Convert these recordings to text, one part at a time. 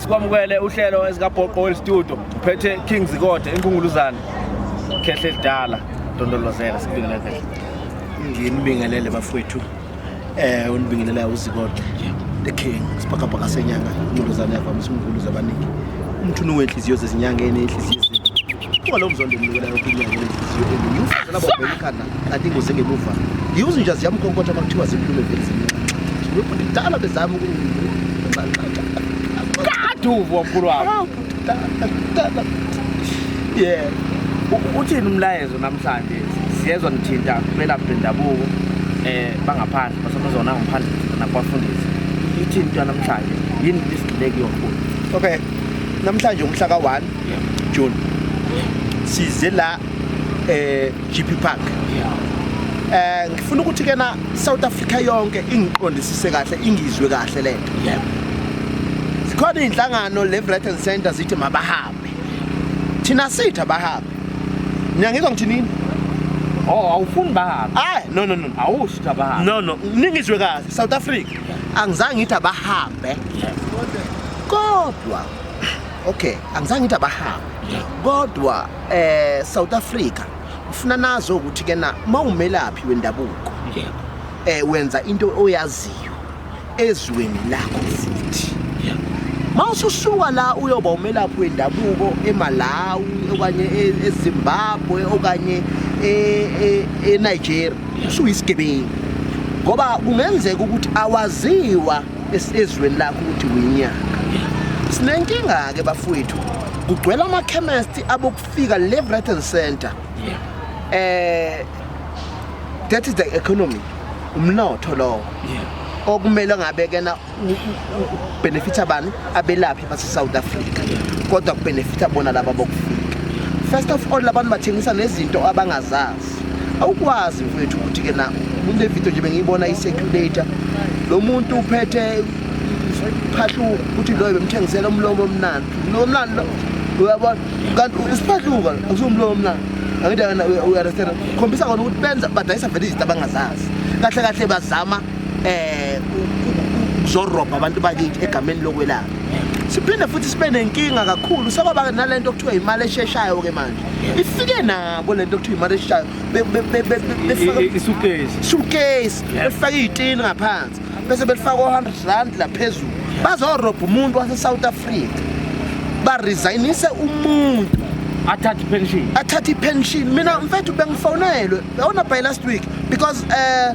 Sikwamukele uhlelo ezikabhoqo Oil Studio uphethe King Zikode enkunguluzana khehle elidala ndondolozela sikubingelela khehle nginibingelele bafowethu eh unibingelela uzikode the king sibhakabhaka senyanga inkunguluzana yavamisa umkhulu zabaningi umthunu wenhliziyo zezinyanga enenhliziyo Kuba lo mzondo umnikela yonke inyanga enhliziyo eningi. Ufuze labo bheka ikhanda kanti ingozi engemuva. Yiwuzi nje ziyamkhonkotha uma kuthiwa zikhulume vele zimnxa. Lokhu kudala bezama ukungiqaqaqa. Kaduvu omkhulu wami. Yeah. Uthini umlayezo namhlanje? Siyezwa nithinta belaphi bendabuko eh bangaphandle basamazona ngaphandle nakubafundisi. Ithini into namhlanje? Yini isidleki yomkhulu? Okay. Namhlanje umhla ka-1 John size la eh GP Park eh ngifuna ukuthi ke na South Africa yonke ingiqondisise kahle ingizwe kahle lento zikhona inhlangano le Brighton Center zithi mabahambe thina sitha bahambe niyangizwa ngithi nini Oh awufuni bahambe. Ay no no no. Awushi bahambe. No no. Ningizwe kahle South Africa. Angizange ngithi abahambe. Kodwa okay angizange ngithi abahambe kodwa eh South Africa ufuna nazo ukuthi ke na mawumelaphi wendabuko yebo eh wenza into oyaziyo ezweni lakho futhi yebo mawususuka la uyoba umelaphi wendabuko eMalawi okanye e- eZimbabwe okanye e- e- eNigeria usuyisigebengu ngoba kungenzeka ukuthi awaziwa esizweni lakho ukuthi winyaka sinenkinga-ke bafowethu kugcwela amakhemesti abokufika le-breton center um that is the economy umnotho lowo okumele ngabe kena benefitha bani abelaphi base-south africa kodwa kubenefitha bona laba bokufika first of all labantu bathengisa nezinto abangazazi awukwazi mfethu ukuthi ke na kule video nje bengiyibona i-circulator lo muntu uphethe phahluka ukuthi loyo bemthengisela umlomo omnandi umlomo omnandi lo uyabona kanti usiphahluka usumlomo omnandi angithi akana uyaresera khombisa kona ukuthi benza badayisa vele izinto abangazazi kahle kahle bazama eh zorobha abantu bakithi egameni lokwelapha siphinde futhi sibe nenkinga kakhulu sekwaba nalento okuthiwa imali esheshayo ke manje ifike nabo lento kuthiwa imali eshayo isukesi befaka iy'tini ngaphansi bese belifaka o-hundred rand la phezulu bazorobha umuntu wasesouth africa baresignise umuntu athathe ipension athathe ipension mina mfethu bengifonelwe yawona by last week because um uh,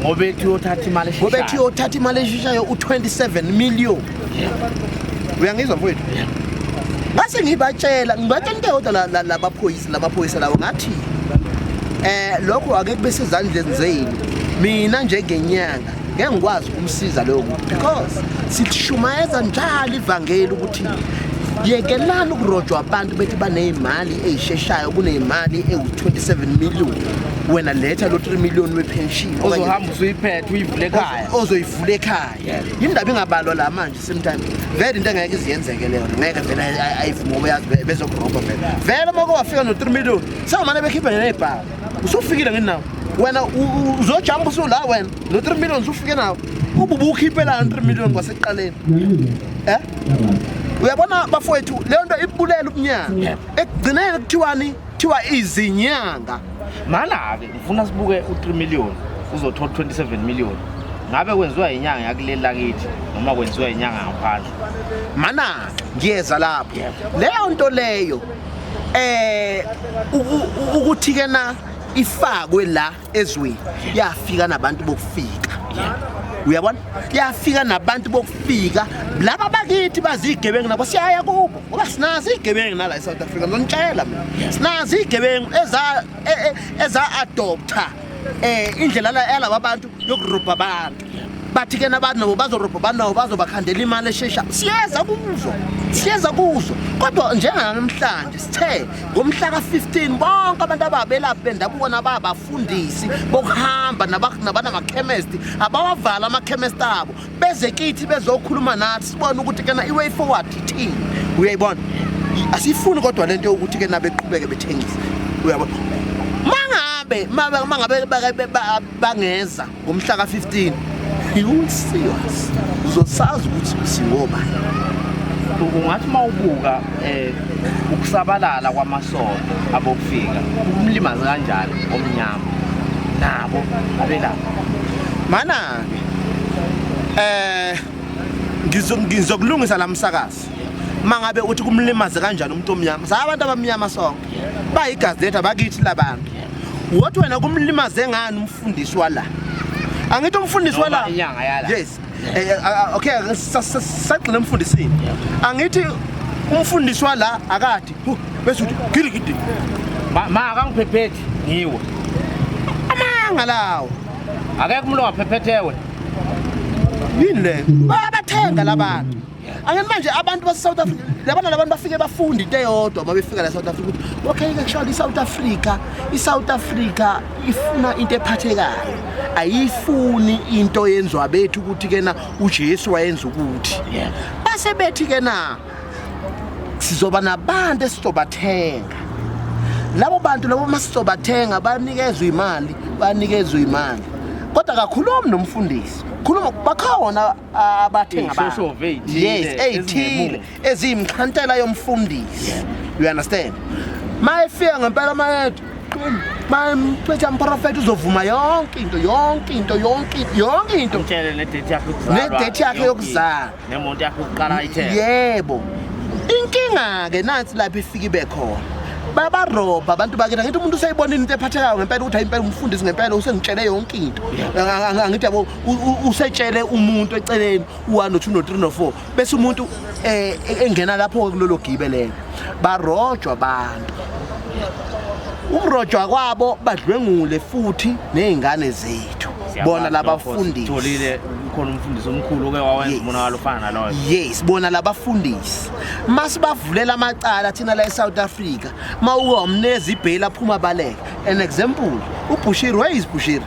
ngoba ethi uyothatha imali eshishayo ngoba ethi uyothatha imali eshishayo u27 million uyangizwa mfowethu ngase ngibatshela ngibatshela into yodwa labaphoyisa labaphoyisa lawo ngathi eh lokho ake kube sezandleni zenu mina njengenyanga ngeke ngikwazi ukumsiza lowo muntu because sithishumayeza njalo ivangeli ukuthi yekelani ukurojwa abantu bethi baneyimali eyisheshayo kuneyimali ewu-27 million wena letha lo 3 million wepension ozohamba usuyiphethe uyivule ekhaya ozoyivula ekhaya indaba ingabalwa la manje same time vele into engeke iziyenzeke leyo ngeke vele ayivuma ngoba yazi bezokurobha vele vele uma wafika no 3 million sewumane bekhiphe nenebhaka usufikile ngenawo wena uzojamba usula wena no 3 million usufike nawo ububa ukhiphela 3 million kwasekuqaleni eh uyabona bafowethu leyo nto ibulela ubunyanga ekugcineni kuthiwani Thiwa izinyanga. Mana ke ngifuna sibuke u3 million uzothola 27 million. Ngabe kwenziwa inyanga yakuleli lakithi noma kwenziwa inyanga ngaphandle. Mana ngiyeza lapho. Leyo nto leyo eh ukuthi ke na ifakwe la ezweni yafika nabantu bokufika uyabona yafika nabantu bokufika laba bakithi bazigebengu nabo siyaya kubo ngoba sinazi igebengu nala eSouth Africa ngizonitshela mina sinazi igebengu eza e, e, eza adopter eh indlela yalaba bantu yokurubha abantu bathi ke nabantu nabo bazorobha abantu nabo bazobakhandela imali eshesha siyeza kuzo siyeza kuzo kodwa njenganamhlanje sithe ngomhla ka-15 bonke abantu ababelaphi bendabuko nababafundisi bokuhamba nabanamakhemesti abawavala amakhemesti abo beze kithi bezokhuluma nathi sibone ukuthi kena i-way forward ithini uyayibona asiyifuni kodwa le nto yokuthi ke nabeqhubeke bethengise uyabona mangabe mangabe bangeza ngomhla ka-15 iwusiwas uzosazi ukuthi singoba ungathi uma ubuka um ukusabalala kwamasondo abokufika ukumlimaze kanjani omnyama nabo abelapha mana-ke um ngizokulungisa la msakazi uma ngabe uthi kumlimaze kanjani umuntu omnyama sa abantu abamnyama sonke bayigazi lethu abakithi labantu wothi wena kumlimaze ngani Mfundisi wala. Angithi umfundisi wala. Inyanga yala. Yes. Eh, eh, ah, ah, okay, sagxile umfundisini. Angithi umfundisi wala akathi bese uthi gidi gidi. Ma akangiphephethi ngiwe. Amanga lawo. Akekho umuntu ongaphephethwe. Yini le? Bayathenga labantu. Ake manje abantu base South Africa labana labantu bafike bafunda into eyodwa uma befika la South Africa ukuthi okay ke kusho i South Africa i South Africa ifuna into ephathekayo ayifuni into yenziwa bethu ukuthi kena uJesu wayenza ukuthi base bethi kena sizoba nabantu esizobathenga labo bantu labo masizobathenga banikezwe imali banikezwe imali kodwa kakhulumi nomfundisi khuluma bakhona abathenga abantu Iy'shoshovu ey'thile yes eziyimixhantela ezingemuva. eziyimxhantela yomfundisi you understand mayefika ngempela amayethu mayemcitha mprofethi uzovuma yonke into yonke into yonke into yonke into Mtshele nedate yakhe yokuzalwa. Nedate yakhe yonke yokuzalwa. into. Nemonto yakhe yokuqala ayithenge. yebo inkinga-ke nansi lapho ifike ibe khona babarobha abantu bakini angithi umuntu useyibonile into ephathekayo ngempela ukuthi hayi impela umfundisi ngempela usengitshele yonke into Ang- ang- angithi yabo usetshele umuntu eceleni u-one no-two no-three no-four bese umuntu um engena lapho-ke kulolo gibe lelo barojwa abantu ukurojwa kwabo badlwengule futhi ney'ngane zethu bona labafundisi khona umfundisi omkhulu oke wawenza umonakalo ofana naloyo yes bona labafundisi masibavulela amacala thina la eSouth Africa mawukomnezi ibhela phuma baleka an example uBushiri where is Bushiri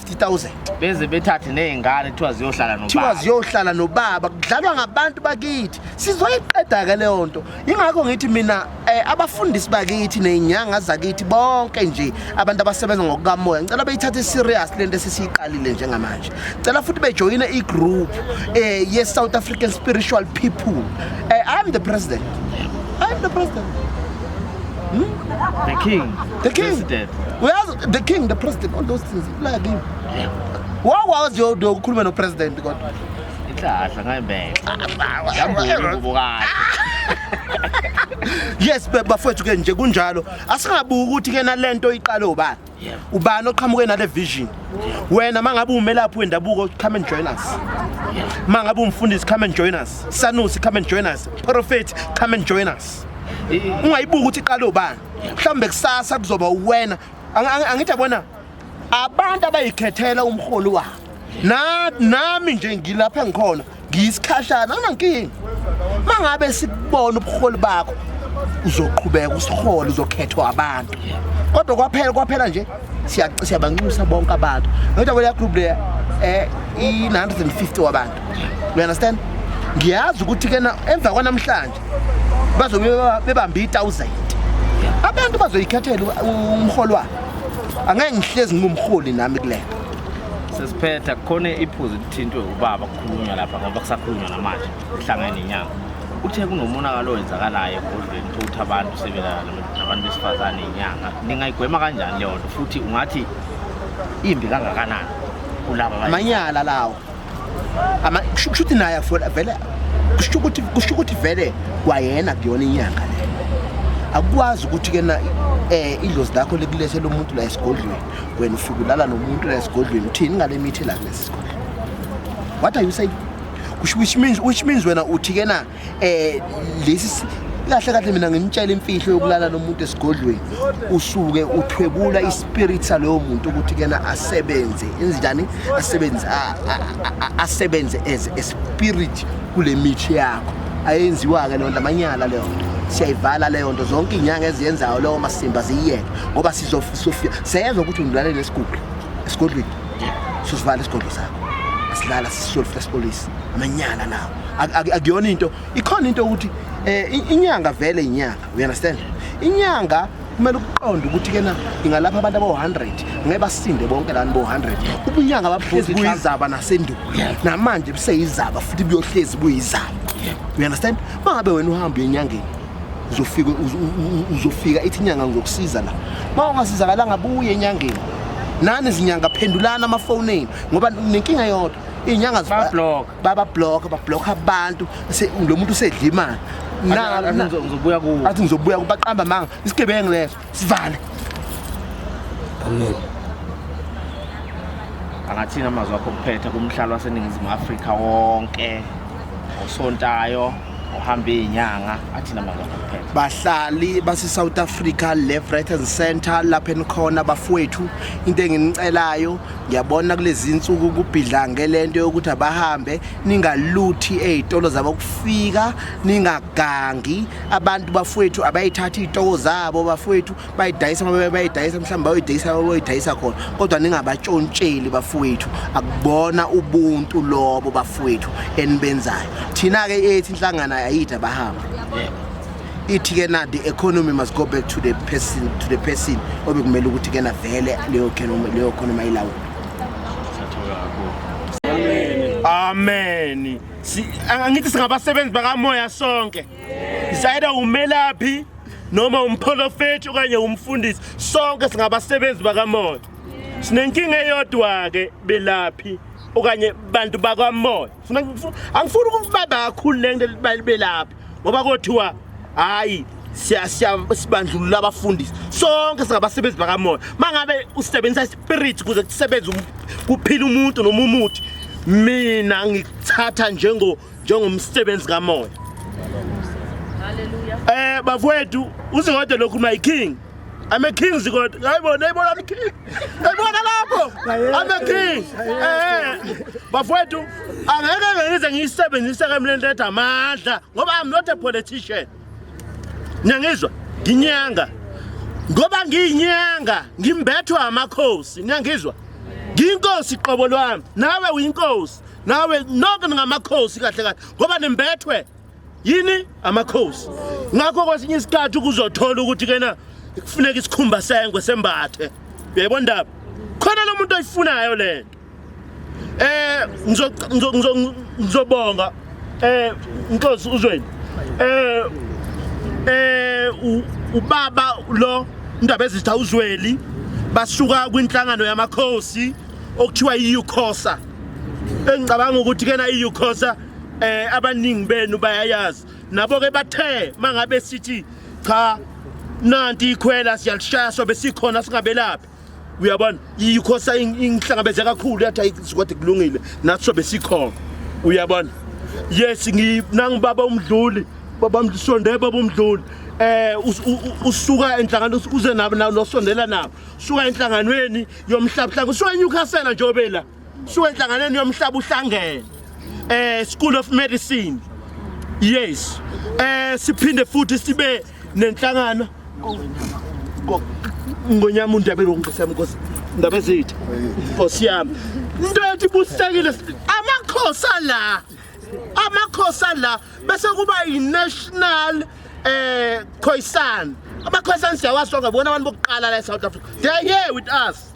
50,000 beze bethathe nezingane kuthiwa ziyohlala nobaba kuthiwa ziyohlala nobaba kudlalwa ngabantu bakithi sizoyiqeda ke leyo nto ingakho ngithi mina eh, abafundisi bakithi nezinyanga zakithi bonke nje abantu abasebenza ngokukamoya ngicela beyithathe serious lento esisiyiqalile njengamanje ngicela futhi bejoyine i group eh ye South African spiritual people eh, I'm the president I'm the president The king. The king. President. Uyazi the king, the president, all those things. Like him. Wawazi yo do ukhuluma no president kodwa. Inhlahla ngayibeka. Yambona ingubo kahle. Yes bafethu ke nje kunjalo. Asingabuki ukuthi ke nalento iqale ubani. ubani oqhamuke nale vision wena mangabe umelaphi wendabuko come and join us mangabe umfundisi come and join us sanusi come and join us prophet come and join us ungayibuka ukuthi iqale ubani mhlawumbe kusasa kuzoba uwena angithi abona abantu abayikhethela umholi wabo nami nje ngilapha ngikhona ngiyisikhashana anankinga mangabe sikubona ubuholi bakho uzoqhubeka usihole uzokhethwa abantu kodwa kwaphela kwaphela nje siyabanxusa bonke abantu nokuthi kweleya group leya eh, um i-950 wabantu you understand ngiyazi ukuthi kena emva kwanamhlanje bazobe bebambe i-thousand abantu bazoyikhethela umholi wabo angeke ngihlezi ngingumholi nami kulento sesiphetha kukhona iphuzu Thintwe ubaba kukhulunywa lapha ngoba kusakhulunywa namanje kuhlangene nenyanga. Uthe kunomonakalo owenzakalayo ebhodlweni uthe ukuthi abantu sebelala nabantu besifazane inyanga. Ningayigwema kanjani leyo nto futhi ungathi imbi kangakanani kulaba abanye? amanyala lawo Ama- kusho kusho ukuthi naye afola- vele kusho ukuthi kusho ukuthi vele kwayena kuyona inyanga le akukwazi ukuthi ke na eh idlozi lakho likulethela umuntu la esigodlweni wena ufike ulala nomuntu la esigodlweni uthini ngale mithi la kulesi What are you saying? Which, which means which means wena uthi ke na eh lesi kahle kahle mina ngimtshela imfihlo yokulala nomuntu esigodlweni usuke uthwebula ispirit salowo muntu ukuthi kena asebenze injani asebenze asebenze as a spirit kule mithi yakho ayenziwa ke lonto amanyala leyo nto siyayivala leyo nto zonke inyanga eziyenzayo leyo masimba ziyiyeke ngoba sizofika seyezwa ukuthi ungilalele esigubhu esigodlweni susivala isigodlo sakho asilala sisole futhi sipolice amanyala nawo Ak- ak- akuyona into ikhona into ukuthi eh, i- inyanga vele inyanga you understand inyanga kumele ukuqonde ukuthi kena ingalapha abantu abawu-100 ngeke basinde bonke lani bo-100 ubunyanga babuhlezi buyizaba nasendulo namanje buseyizaba futhi buyohlezi buyizaba you understand uma ngabe wena uhamba uye enyangeni uzofika uzofika ithi inyanga ngizokusiza la uma ungasizakalanga buye enyangeni nani izinyanga phendulana amafoni enu ngoba nenkinga yodwa iy'nyanga babablock bablock abantu lo muntu usedla imali ngizobuya kuwo athi ngizobuya kubaqamba manga isigebengu leso Sivale. Amen. Angathina amazwi akho kuphetha kumhlalo waseNingizimu Afrika wonke osontayo ohamba izinyanga athina amazwi akho kuphetha. Bahlali base South Africa left right and center lapha enikhona bafowethu into enginicelayo ngiyabona kulezi insuku kubhidla ngelento yokuthi abahambe ningaluthi ezitolo zabo kufika ningagangi abantu bafowethu abayithathi iy'toko zabo bafowethu bayidayisa uma bayidayisa mhlawumbe bayoyidayisa bayoyidayisa khona kodwa ningabatshontsheli bafowethu akubona ubuntu lobo bafowethu enibenzayo thina-ke ethi inhlangano ayide abahambe ithi-ke na the economy must go back to the person to the person obekumele ukuthi-ke na vele leyo economy ayilawula ameni angithi singabasebenzi bakamoya sonke sayida umelaphi noma umprofethi okanye umfundisi sonke singabasebenzi bakamoya sinenkinga eyodwa-ke belaphi okanye bantu bakamoya angifuni ukuba bakhulu le nto belaphi ngoba kothiwa hayi sibandlulula abafundisi sonke singabasebenzi bakamoya uma ngabe usebenzisa ispirit kuze kusebenze um, kuphila umuntu noma umuthi mina ngikuthatha njengo njengomsebenzi kamoya um bafowethu uzingodwa lokhu my king I'm a king Zikoti. Hayibo nayibona ni king. Nayibona lapho. I'm a king. Eh. Bafowethu angeke ngize ngiyisebenzise ke mina lento amandla ngoba I'm not a politician. Niyangizwa? Nginyanga. Ngoba ngiyinyanga, ngimbethwa amakhosi. Niyangizwa? Ngiyinkosi qobo lwami. Nawe uyinkosi. Nawe nonke ningamakhosi kahle kahle ngoba nimbethwe yini amakhosi ngakho kwesinye isikhathi ukuzothola ukuthi kena kufuneka isikhumba sengwe sembathe uyayibona ndaba khona lo muntu oyifunayo le nto eh ngizobonga eh inkosi uzweni eh eh ubaba lo indaba ezitha uzweli basuka kwinhlangano yamakhosi okuthiwa i-ucosa engicabanga ukuthi kena i-ucosa eh abaningi benu bayayazi nabo ke bathe mangabe sithi cha nanti ikhwela siyalishaya sobe sikhona singabelaphi uyabona yikho sayingihlangabeze kakhulu yathi ayikwade kulungile nathi sobe sikhona uyabona yes nangibaba umdluli baba msonde baba umdluli eh usuka enhlangano uze nabo nosondela nabo suka enhlanganweni yomhlabhlanga usuka eNewcastle nje obela Shuwe enhlanganweni yomhlaba uhlangene eh School of Medicine yes eh siphinde futhi sibe nenhlangano ngonyama undebe lokungisema inkosi ndaba zethu inkosi yami into yathi busekile amakhosi la amakhosi la bese kuba yi-national eh khoisan amakhoisan siyawazi sonke bona abantu bokuqala la e-south africa they are here with us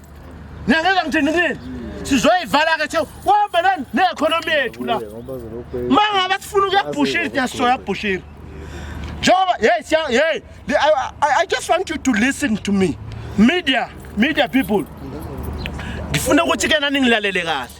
Niyangizwa ngithini kini? Sizoyivala ke tho wahamba nani neeconomy yethu la. Mangaba sifuna ukuyabhushira siyasoya bhushira. Njengoba hey siya hey I, I, I just want you to listen to me. Media, media people. Ngifuna ukuthi ke nani ngilalele kahle.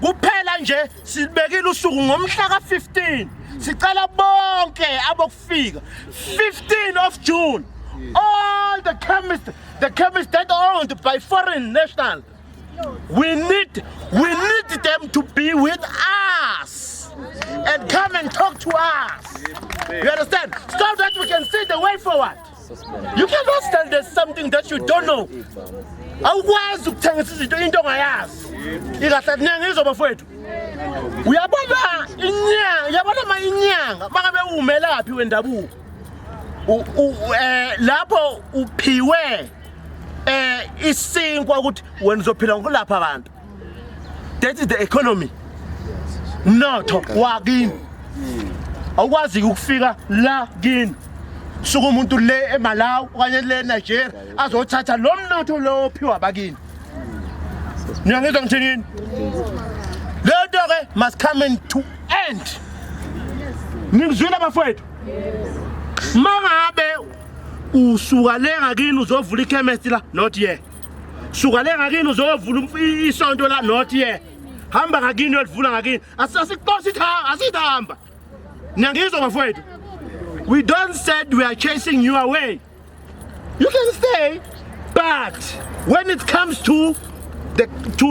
kuphela nje silibekile usuku ngomhla ka-15 sicela bonke abokufika 15 of june all the chemist the chemist that owned by foreign national we need we need them to be with us and come and talk to us you understand so that we can see the way forward You cannot sell there's something that you don't know. Awukwazi ukuthengisa izinto into ongayazi. Ikahle kuningi izo bafowethu. Uyabona inyanga, uyabona ma inyanga makabe umelaphi wendabuko. Eh lapho uphiwe eh isinkwa ukuthi wena uzophila ngokulapha abantu. that is the economy mnotho wakini awukwazi ukufika la kini suka umuntu le eMalawi okanye le eNigeria azothatha lo mnotho lo ophiwa bakini niyangizwa ngithinini lento ke must come in to end ningizwile bafowethu mangabe usuka le ngakini uzovula ikhemesti la not yet suka le ngakini uzovula isonto la not ye hamba ngakini uyolivula ngakini asixosi ithanga asithamba niyangizwa bafowethu we don't said we are chasing you away you can stay but when it comes to the to